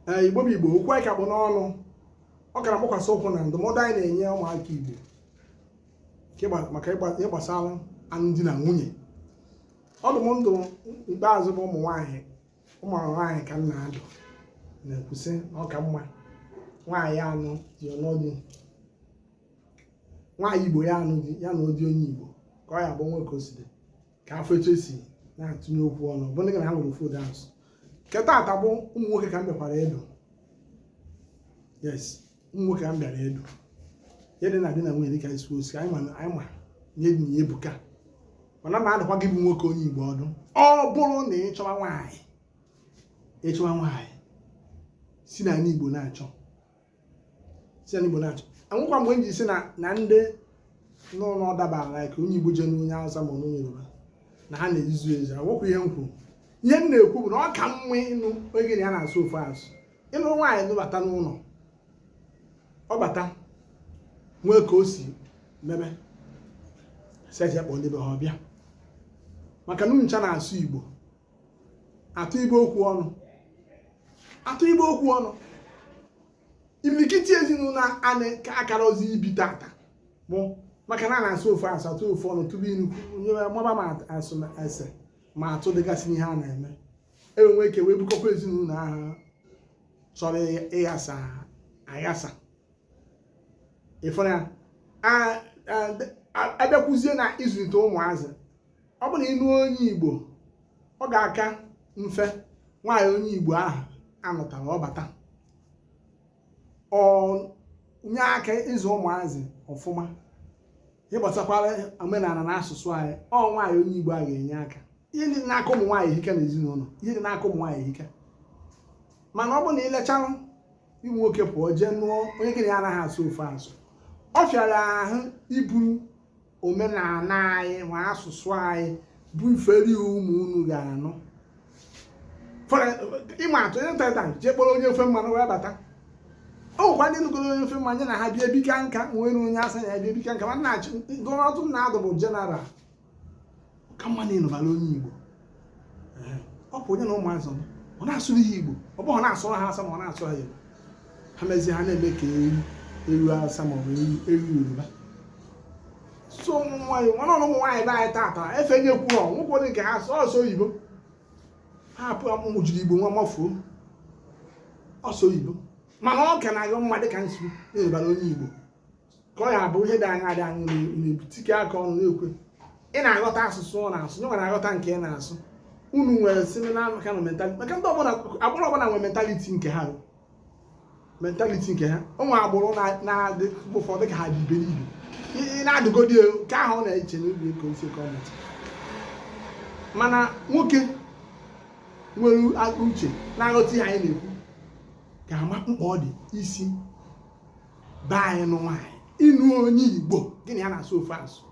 ee igbo bụ igbo okwu anyị ka kpụ n'ọnụ ọ ka na-agbakwasị ụkwụ na ndụmọdụ anyị na-enye ụmụaka igbo nke gba- maka ịgba- ihe gbasara alụmdi na nwunye ọdụ m dụ ikpeazụ bụ ụmụ nwaanyị ụmụ nwaanyị ka m na-adụ na-ekwusị na ọ ka mma nwaanyị anụ ya nụọ di nwaanyị igbo ya anụ di ya nụọ di onye igbo ka ọ ya bụ nwoke o si dị ka a fụ etu e si na-atụnye okwu ọnụ bụ ndị gị na ha nwere ofu ụda asụsụ nke taata bụ ụmụ nwoke ka m bịakwara ịdụ yes ụmụ nwoke ka m bịara ịdụ ihe dị na di na nwunye dịka isi osi anyị ma anyị ma na ihe dị na ya ebuka mana m na-adụkwa gị bụ nwoke onye igbo ọdụ ọ bụrụ na ị chọwa nwaanyị ị chọwa nwaanyị si n'ala igbo na-achọ si n'Igbo na-achọ enwekwa mgbe m ji sị na na ndị nụlụ ọdaba like onye Igbo jee nụọ onye Hausa ma onye Yoruba na ha na-ezuzu ezuzu awụkwa ihe m kwuru ihe m na-ekwu bụ na ọ ka mma ịnụ onye gị na ya na-asụ ofu asụ ịnụ nwaanyị nụbata n'ụlọ ọ bata nwee ka o si mebe sị ya kpọọ ndị be ha ọbịa maka na unu ncha na-asụ Igbo atụ ibe okwu ọnụ atụ ibe okwu ọnụ imirikiti ezinụlọ anyị ka akara ozi ibi tata bụ maka na a na-asụ ofu asụ atụ ofu ọnụ tupu inu nyewe maba ma asụ ese ma atụ dịgasị n'ihe a na-eme e wee nwee ike wee bukọkwa ezinụlọ ahụ chọrọ ịghasa aghasa ị fụrụ ya a bịakwuzie na ịzụlite ụmụazị ọ bụ na ị nụ onye igbo ọ ga-aka mfe nwaanyị onye igbo ahụ a nụtara ọ bata o nye aka ịzụ ụmụazị ọfụma gbasakwara omenala na asụsụ anyị ọ nwaanyị onye igbo a ga-enye aka ihe dị n'aka ụmụ nwaanyị ehika n'ezinụlọ ihe dị n'aka ụmụ nwaanyị ehika mana ọ bụ na i lechara ụmụ nwoke pụọ jee nụọ onye gị na ya anaghị asụ ofu asụ ọ fịara ahụ iburu omenala anyị ma asụsụ anyị bufere ụmụ unu ga-amụ ịma atụ onye nta jee kpọrọ onye ofe mmanụ wee bata ọ nwekwa ndị nụgoro onye ofe mmanụ ya na ha bịa ebika nka nwere onye awụsa ya bịa ebika nka mana achị gụrụ ọdụ m na-adụ bụ general ka mma na ị nụbara onye igbo ọ bụ onye na ụmụazị ọ na-asụrụ ha igbo ọ bụghị na-asụrụ ha awụsa ma ọ na-asụrụ ha igbo ha mezie ha na-eme ka eru eru awụsa ma ọ bụ eru yoruba so ụmụ nwaanyị nwana ọrụ ụmụ nwaanyị be anyị taata efe nye kwuo ọ nwoke dị nke ha sọọsọ oyibo ha apụ amụmụ jiri igbo nwa mafuo ọsọ oyibo mana ọ ka na-adị mma dịka m sị nụbara onye igbo ka ọ ya bụ ihe dị anya dị anya na-ebutike aka ọnụ na-ekwe ị na-aghọta asụsụ ọ na-asụ nye nwere aghọta nke ị na-asụ unu nwere similar kind of mentality maka ndị ọbụla agbụrụ ọbụla nwere mentality nke ha mentality nke ha o nwee agbụrụ na-adị mgbe ụfọdụ ka ha dị iberibe ị na-adụgodi nke ahụ ọ na-eche n'obi ka osi ka ọ mụta mana nwoke nwere akọ uche na-aghọta ihe anyị na-ekwu ga-ama mkpa ọ dị isi be anyị nụ nwaanyị ịnụ onye igbo gị na ya na-asụ ofu asụ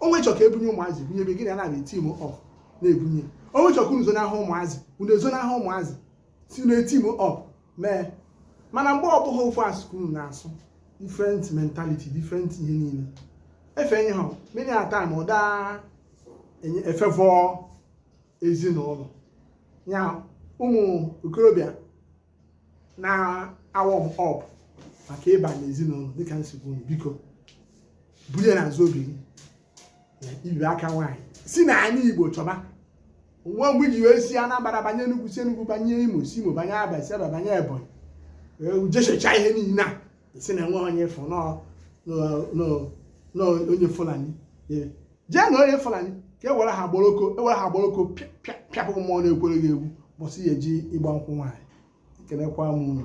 o wee chọọ ka ebunye ụmụazị bunye ebe gị na ya na-abịa e-team up na-ebunye o wee chọọ ka unu zonahụ ụmụazị unu ezonahụ ụmụazị si na-eteam up mee mana mgbe ọ bụghị ofu asụ ka unu na-asụ different mentality different ihe niile efe ihe ha many a time ọ daa efavour ezinụlọ ya ụmụ okorobịa na-awarm up maka ịba n'ezinụlọ dịka m si gwa unu biko buru ya n'azụ obi gị na iwe aka nwaanyị si n'anị igbo chọba nwa mgbe iji wee si anambra banye enugwu si enugwu banye imo si imo banye abia si abia banye ebonyi wee jechachaa ihe niile a sị na enweghị onye ị fụ na onye fulani jee nụọ onye fulani ka ewere ha gboroko ewere ha gboroko pịapụ mmụọ na-ekwere gị egwu ụbọsị ị ya-eje ịgba nkwụ nwaanyị ekelekwa m unu